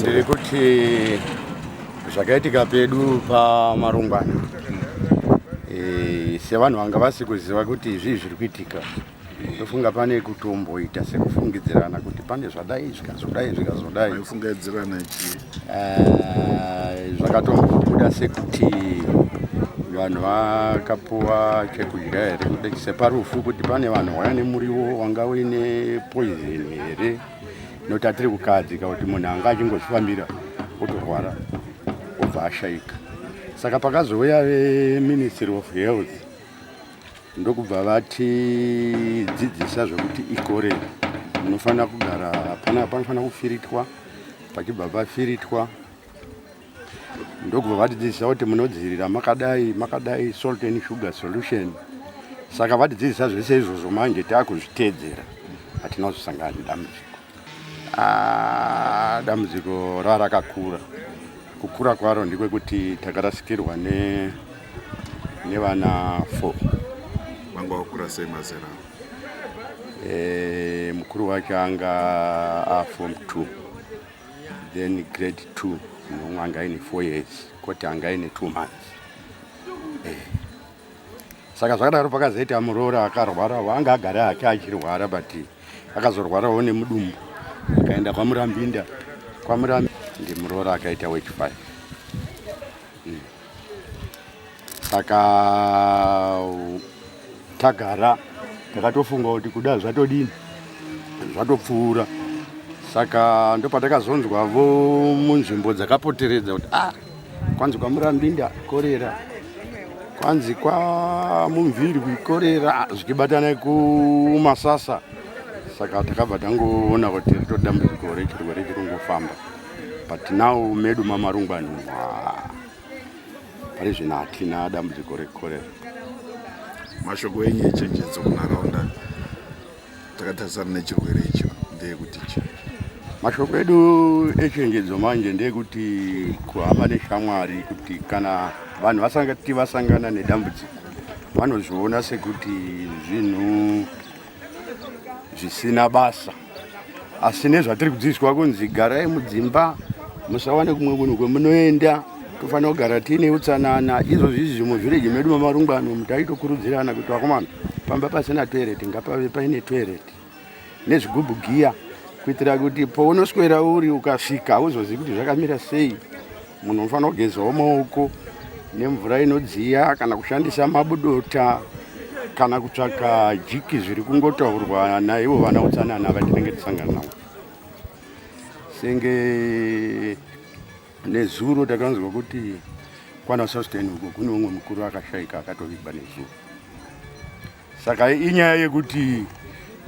ndiri kuti zvakaitika pedu pamarungwana e, sevanhu vanga vasi kuziva kuti zvii zviri kuitika tofunga pane kutomboita sekufungidzirana kuti pane zvadai zvikazodai zvikazodai fungidzirana chii eh, zvakatombobuda sekuti vanhu vakapuwa chekudya here kuti separufu kuti pane vanhu waya nemuriwo wanga uine poizini here nokuti atiri kukahadzika kuti munhu anga achingozvifambira otorwara obva ashaika saka pakazouya veministry of health ndokubva vatidzidzisa zvekuti ikore munofanira kugara panofanira kufiritwa pachibva pafiritwa ndokubva vatidzidzisa kuti munodzivirira makadai makadai salt and sugar solution saka vatidzidzisa zvese izvozvo manje taakuzviteedzera hatina kuzosangana nedambudziko ah, dambudziko rarakakura kukura kwaro ndekwekuti takarasikirwa ne nevana four vanga vakura sei mazera e, mukuru wacho anga afom two then grade two mumwe anga aine four years koti anga aine two months eh. saka zvakadaro pakazoita muroori akarwara waanga agara hake achirwara but akazorwarawo nemudumbu akaenda kwamurambinda kwamurambi ndimuroori akaita wechifive saka tagara takatofunga kuti kuda zvatodini zvatopfuura saka ndopatakazonzwa vo munzvimbo dzakapoteredza kuti ah kwanzi kwamurambinda korera kwanzi kwamumviri kuikorera zvichibatana kumasasa saka takabva tangoona kuti rito dambudziko rechirwere chiri kungofamba but now medu mamarungwani pari zvino hatina dambudziko rekorera mashoko enyu echenjedzo kunharaunda takatarisana nechirwere icho ndeyekuti chi mashoko edu echenjedzo manje ndeyekuti kuhama neshamwari kuti kana vanhu vasangati vasangana nedambudziko vanozviona sekuti zvinhu zvisina basa asi nezvatiri kudzidziswa kunzi garai mudzimba musawane kumwe kunhu kwemunoenda tofanira kugara tiine utsanana izvozvi izvi zvimwe zvireji medu mamarungano mutaitokurudzirana kuti vakomana pamba pasina toireti ngapave paine toireti nezvigubhu giya kuitira kuti pounoswera uri ukasvika hauzozivi kuti zvakamira sei Munhu unofanira kugezawo maoko nemvura inodziya kana kushandisa mabudota kana kutsvaka jiki zviri kungotaurwa naivo vana utsanana vatinenge tisangana navo senge nezuro takanzwa kuti kwana sustain uko kune umwe mukuru akashaika akatovigwa nezuro saka inyaya yekuti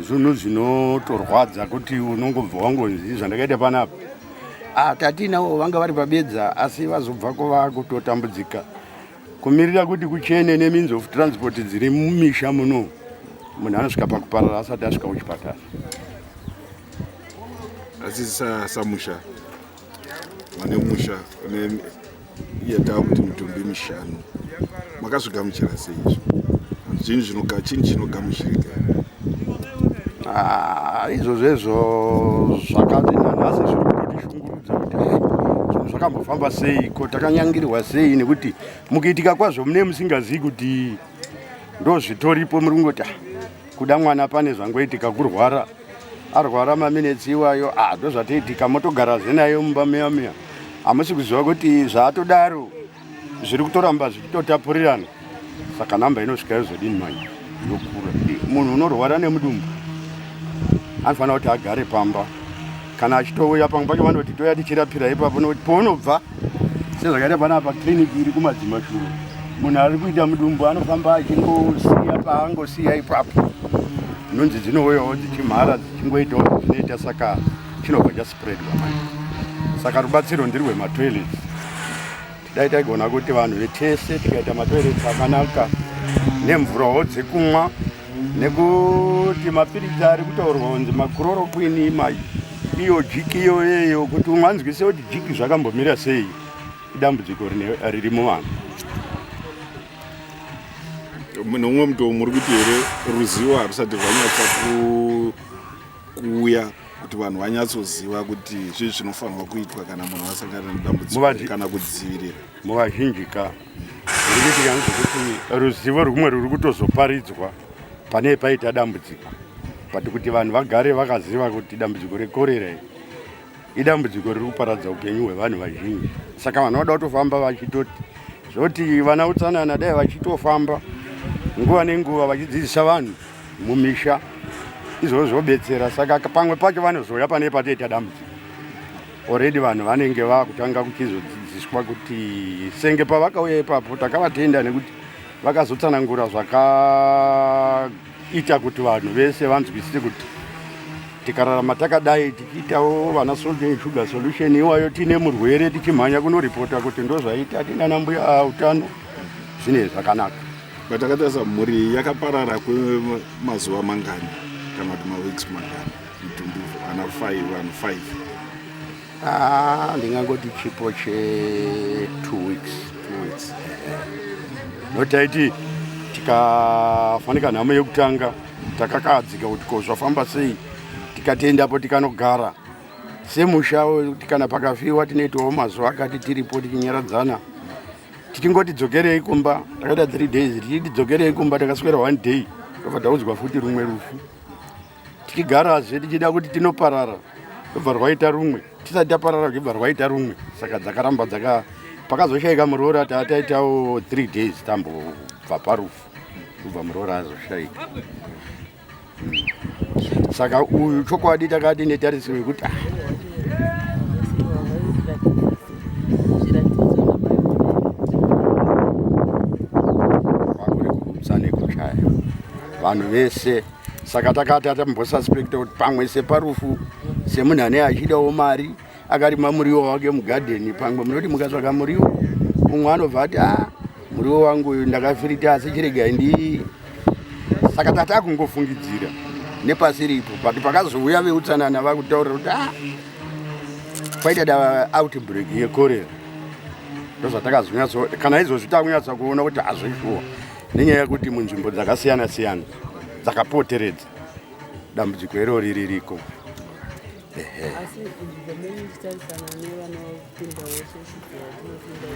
zvinhu zvinotorwadza kuti unongobva wangonzi zvandakaita panapa ah, tatinawo vanga vari pabedza asi vazobvako vakutotambudzika kumirira kuti kuchene nemeans of transport dziri mumisha muno munhu anosvika pakuparara asati asvika kuchipatara asi samusha vane musha une iye taa kuti mitumbi mishanu makazvigamuchira sei izvo zvinhu zvinoga chini chinogamuchirika ah, izvo zvezvo zvakati nanhasi zviri kutotishungurudza kuti zvinhu zvakambofamba sei ko takanyangirwa sei nekuti mukuitika kwazvo mune musingazivi kuti ndozvitoripo muri kungoti ah, kuda mwana pane zvangoitika kurwara arwara maminetsi iwayo ah, ndozvatiitika motogara zvenayo mumba miya miya hamusi kuziva kuti zvaatodaro zviri kutoramba zvichitotapurirana saka namba inosvika yozodini manje yokura munhu unorwara nemudumbu anofanira kuti agare pamba kana achitouya pamwe pacho vanoti toya tichirapira ipapo nokuti pounobva sezvakaita panapa kiriniki iri kumadzima shuru munhu ari kuita mudumbu anofamba achingosiya paangosiya ipapo nhunzi dzinouyawo dzichimhara dzichingoitawo zvinoita saka chinobva chaspreadwa manje saka rubatsiro ndirwematoilets dai taigona kuti vanhu vetese tikaita matoireti akanaka nemvurawo dzekumwa nekuti mapiritsi ari kutaurwa kunzi makurorokwini mai iyo jiki iyoyeyo kuti umwe anzwise kuti jiki zvakambomira sei idambudziko riri muvanhu nomumwe mutowo muri kuti here ruzivo harusati rwanyatsa kuuya kuti vanhu vanyatsoziva kuti zvii zvinofanirwa kuitwa kana munhu asangana nedambudziko kana kudzivirira muvazhinji ka rikuitika kuti ruzivo rumwe ruri kutozoparidzwa pane paita dambudziko but kuti vanhu vagare vakaziva kuti dambudziko rekorera iri idambudziko riri kuparadza upenyu hwevanhu vazhinji saka vanhu vada kutofamba vachitoti zvoti vana utsanana dai vachitofamba nguva nenguva vachidzidzisa vanhu mumisha izvozvo zvobetsera saka pamwe pacho vanozouya pane patoita dambudziko already vanhu vanenge vakutanga kuchizodzidziswa kuti senge pavakauya ipapo takavatenda nekuti vakazotsanangura zvakaita kuti vanhu vese vanzwisise kuti tikararama takadai tichiitawo vana solden sugar solution iwayo tiine murwere tichimhanya kunoripota kuti ndozvaita tinana mbuya utano zvinei zvakanaka but akatarisa mhuri iyi yakaparara kwemazuva mangani kana kuti maweeks mangani mitumbi ana five vanhu five ah, ndingangoti chipo che two weeks two weeks notaiti tikafanika nhamo yekutanga takakahadzika kuti ko zvafamba sei tikatiendapo tikanogara semusha kana pakafiwa tinoitawo mazuva akati tiripo tichinyaradzana tichingoti dzokerei kumba takaita three days tichiti dzokerei kumba takaswera one day tobva taudzwa futi rumwe rufu tichigarazve tichida kuti tinoparara tobva rwaita rumwe tisati taparara kuchibva rwaita rumwe saka dzakaramba dzaka pakazoshaika muroora taataitawo three days tambobva parufu kubva muroora azoshaika saka uyu chokwadi takati netarisiro yekuti ah, vanhu vese saka takati atambosaspekta kuti pamwe separufu semunhu ane achidawo mari akarima muriwo wake mugadheni pamwe munoti mukatsvaga muriwo umwe anobva ati a ah, muriwo wangu uyu ndakafirita asi chiregai ndi saka tata kungofungidzira nepasi ripo but pakazouya veutsanana vakutaurira kuti a ah, kwaita da outbreak yekorera ndozvatakazonyatso kana izvozvi takunyatsa kuona kuti hazvishuwa nenyaya yekuti munzvimbo dzakasiyana siyana dzakapoteredza dambudziko irori ririko asi izvi zvamene ndichitarisana nevanopinda wese zvatinopinda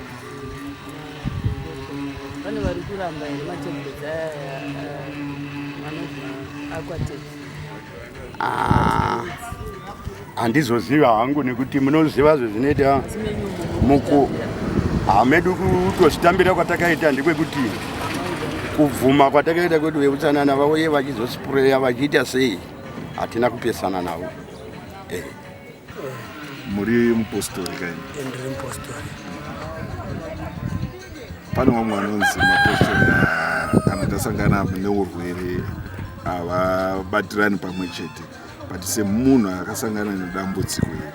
pane vari kuramba here matembezi aya vanobva aquatex handizoziva ah, hangu nekuti munoziva zvezvinoita muku hamedu kutozvitambira kwatakaita ndekwekuti kubvuma kwatakaita kwedu veutsanana vauye vachizospureya vachiita sei hatina kupesana navo eh. muri mupostori kaini eh, ndiri mupostori pane vamwe vanonzi mapostori kana tasangana neurwere havabatirani pamwe chete but semunhu akasangana nedambudziko iri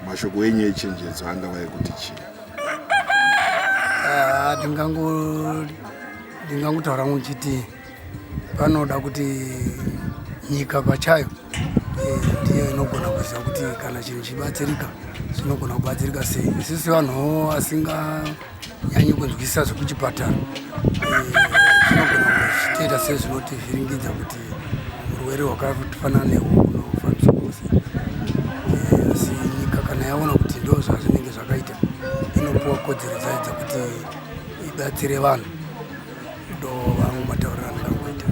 mashoko enyu echenjedzo angava ekuti chii ah, ndingangotaura ngochiti Panoda kuti nyika pachayo eh, ndiyo inogona kuziva kuti kana chinhu chibatsirika chinogona kubatsirika sei. Isisi vanhu vasinganyanyi kunzwisisa zvekuchipatara zvinogona eh, kuzvitoita sezvinotivhiringidza kuti urwere hwakafanana nehwo unofambiswa kose eh, asi nyika kana yaona kuti ndo zvazvinenge zvakaita inopiwa kodzero dzayo dzekuti ibatsire vanhu ndovangu matauriro andakuita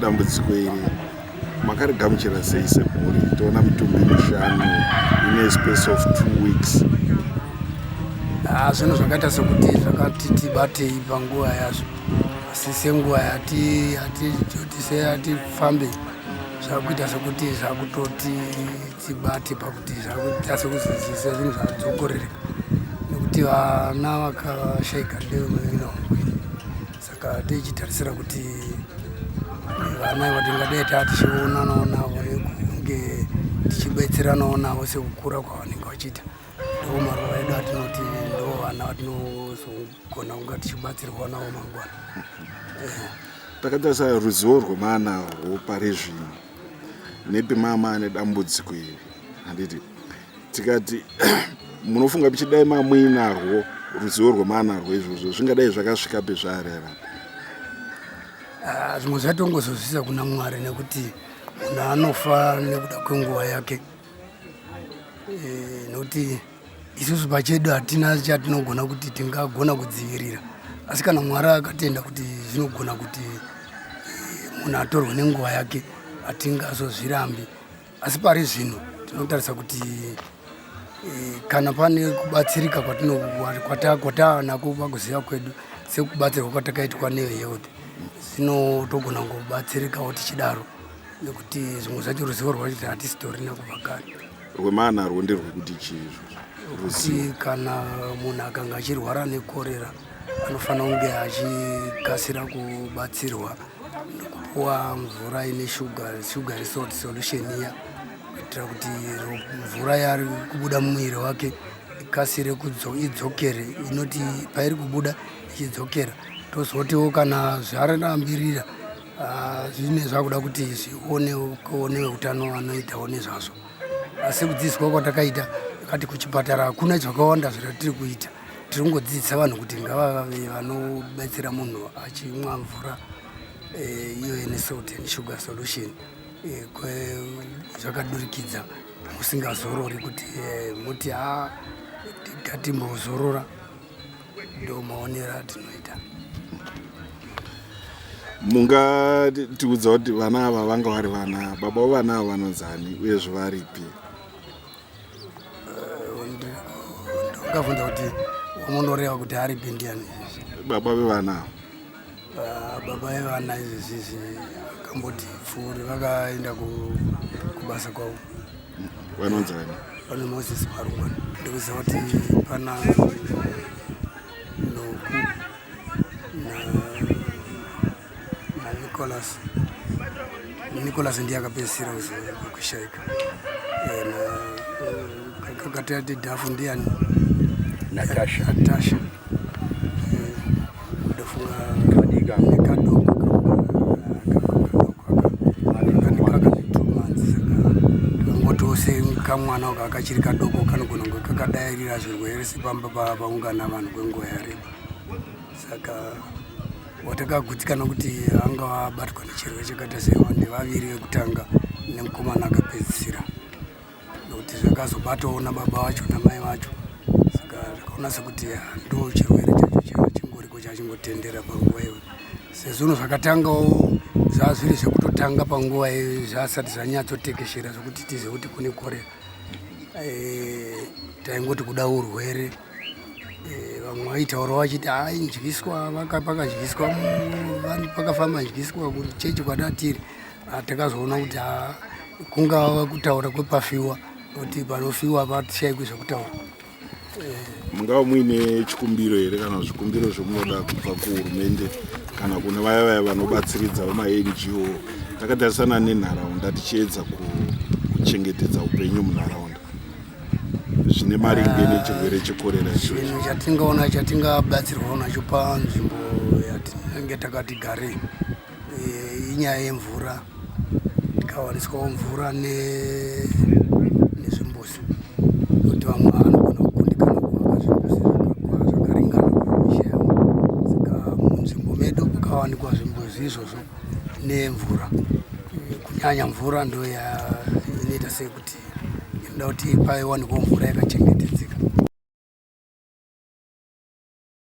dambudziko iri makarigamuchira sei semhuri toona mitumbi mishanu ine space of two weeks ah, zvinhu zvakaita sekuti zvakati tibatei panguva yazvo asi senguva yatifambe zvakuita sekuti zvakutoti tibate pakuti zvakuita sekuzidzisa zvinhu zvadzokorereka nekuti vana vakashaika ndevemuvina wamweni saka tichitarisira kuti vana iva tingadai taa tichionanawo navo nekunge tichibetseranawo navo sekukura kwavanenge vachiita ndoo maruva edu atinoti ndo vana vatinozogona kunga tichibatsirwa navo mangwana takatarisa ruzivo rwemwana rwopari zvino nepi mama ane dambudziko iri handiti tikati munofunga pichidai mamuinarwo ruzivo rwemanarwo izvozvo zvingadai zvakasvika pezvaareva ah, zvimwe zvatongozozvisa kuna mwari nekuti munhu anofa nekuda kwenguva yake eh, nokuti isusu pachedu hatina chatinogona kuti tingagona kudzivirira asi kana mwari akatenda kuti zvinogona kuti eh, munhu atorwe nenguva yake hatingazozvirambi asi pari zvino tinotarisa kuti eh, kana pane kubatsirika kwataanako pakuziva kwedu sekubatsirwa kwatakaitwa nevehealth zvino togona kubatsirikawo tichidaro nekuti zvimwe zvacho ruzivo rwacho hatisitorina kubva kare Rwemana rwo nderwekuti chii izvozvo? Ruzivo. Kuti kana munhu akanga achirwara nekorera anofanira kunge achikasira kubatsirwa nekupuwa mvura ine sugar, sugar salt solution iya kuitira kuti ro- mvura yaari kubuda mumuviri wake ikasire kudzo- idzokere inoti pairi kubuda ichidzokera tozotiwo kana zvarambirira Ah, zvine zvakuda kuti zvioneone utano vanoitawo nezvazvo asi kudzidziswa kwatakaita kati kuchipatara hakuna zvakawanda zvatiri kuita tiri kungodzidzisa vanhu kuti ngavave vanobetsera munhu achimwa mvura eh, iyo ine salt and sugar solution eh, zvakadurikidza musingazorori kuti eh, moti ha ah, tatimbozorora ndomaonero atinoita mungatiudza kuti vana ava vanga vari vana baba vevana ava vanonzani uyezve varipi ndokavhunza kuti unoreva kuti aripi ndiani baba vevana ava Ah, baba evana izvi sisi vakamboti pfuuri vakaenda ku- kubasa kwavo vanonzi vani pane moses paruma ndikuziva kuti pana noku na- nanicolas nicolas ndiye akapedzisira kuzo- kushaika Eh, na- kakati ati dhafu ndiani natasha natasha kamwana uka kachiri kadoko kanogona kunge kakadairira zvirwere sepamba paungana vanhu kwenguva yareba saka watakagutsikana kuti anga abatwa nechirwere chakaita sewa ndevaviri vekutanga nemukomana akapedzisira nokuti zvakazobatawo nababa vacho namai vacho saka zvakaona sekuti ndo chirwere chacho chingoriko chachingotendera panguva iyo sezvino zvakatangawo zvava zviri zvekutotanga panguva iyo zvasati zvanyatsotekeshera zvekuti tizive kuti kune korera eh, taingoti kuda urwere eh, vamwe vaitaura vachiti hai ndyiswa pakadyiswa pakafamba ndyiswa kuchechi kwadatiri Ah, takazoona kuti ah, kungava kutaura kwepafiwa kuti panofiwa patishaikwe zvekutaura eh. mungava muine chikumbiro here kana zvikumbiro zvomunoda kubva kuhurumende kana kune vaya vaya vanobatsiridza vamanggo takatarisana nenharaunda tichiedza kuchengetedza upenyu munharaunda zvine maringe ah, nechirwere chekorera chinhu chatingaona chatingabatsirwawo nacho panzvimbo yatinenge takati garei eh, inyaya yemvura tikawaniswawo mvura nezvimbuzi kuti vamwe vanogona kukundikana kuvaka zvimbuzi zvakakura zvakaringana kumisha yavo saka munzvimbo medu kukawanikwa zvimbuzi izvozvo nemvura kunyanya mvura ndo inoita sekuti inoda kuti paiwanikwa mvura yakachengetedzeka